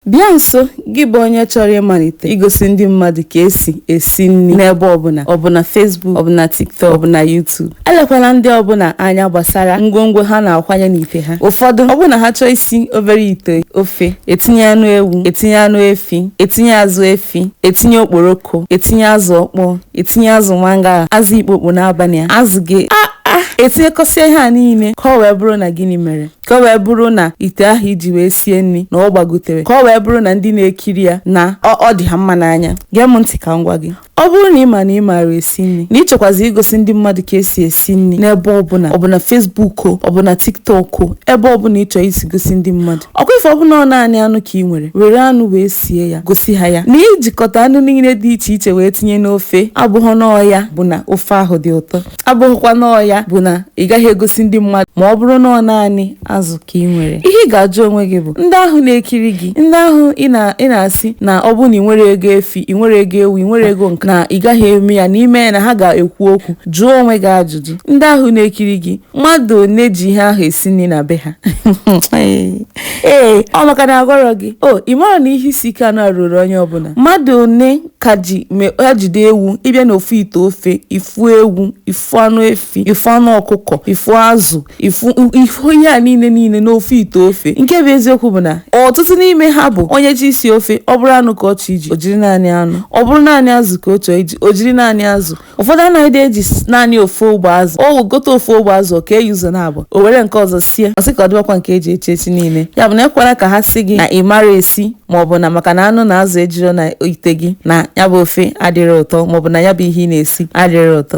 Bịa nso gị bụ onye chọrọ ịmalite igosi ndị mmadụ ka esi esi nri n'ebe ọbụla ọ bụ na Facebook ọ bụ na TikTok ọ bụ na YouTube elekwala ndị ọbụla anya gbasara ngwongwo ha na-akwanye n'ite ha ụfọdụ ọ bụ na ha chọọ isi obere ite ofe etinye anụ ewu etinye anụ efi etinye azụ efi etinye okporoko etinye azụ ọkpọọ etinye azụ mangala azụ ikpokpo n'abalị a azụ gị a a etinyekọsịa ihe a niile ka ọ wee bụrụ na gịnị mere ka o wee bụrụ na ite ahụ iji wee sie nri na ọ gbagotere ka ọ wee bụrụ na ndị na-ekiri ya na ọ dị ha mma n'anya gee m ntị ka m gwa gị ọ bụrụ na ị ma na ị maara esi nri na ịchọkwazi igosi ndị mmadụ ka esi esi nri n'ebe ọbụla ọ bụ na Facebook o ọ bụ na TikTok o ebe ọbụla ịchọ isi gosi ndị mmadụ ọkwa ife ọbụla ọ naanị anụ ka ị nwere were anụ wee sie ya gosi ha ya na ijikọta anụ niile dị iche iche wee tinye n'ofe abụghị na ọ ya bụ na ofe ahụ dị ụtọ abụghịkwa na ọ ya bụ na ị gaghị egosi ndị mmadụ ma ọ bụrụ na ọ naanị azụ ka ị nwere ihe ị ga-ajụ onwe gị bụ ndị ahụ na-ekiri gị ndị ahụ ị na-asị na ọ bụ na ị nwerọ ego efi ị nwerọ ego ewu ị nwerọ ego nke na ị gaghị eme ya na ị mee ya na ha ga-ekwu okwu jụọ onwe gị ajụjụ ndị ahụ na-ekiri gị mmadụ one ji ihe ahụ esi nri na be ha ee ọ maka na agwarọ gị o ị mara na ihe isi ike a nọ a ruru onye ọbụla mmadụ one ka ị je be ha jide ewu ị bịa n'ofu ite ofe ị fụ ewu ị fụ anụ efi ị fụ anụ ọkụkọ ị fụ azụ ị fụ ị fụ ihe a niile niile n'ofu ite ofe nke bụ eziokwu bụ na ọtụtụ n'ime ha bụ onye je isi ofe ọ bụrụ anụ ka ọ chọ iji o jiri naanị anụ ọ bụrụ naanị azụ ka ọ chọọ iji o jiri naanị azụ ụfọdụ anaghịdị eji s- naanị ofu ogbe azụ o gote ofu ogbe azụ o kee ya ụzọ naabọ o were nke ọzọ sie ọ sị ka o debekwa nke eji echi echi niile ya bụ na ekwela ka ha sị gị na ị marọ esi ma ọ bụ na maka na anụ na azụ ejurọ na ite gị na ya bụ ofe adịrọ ụtọ ma ọ bụ na ya bụ ihe ị na-esi adịrọ ụtọ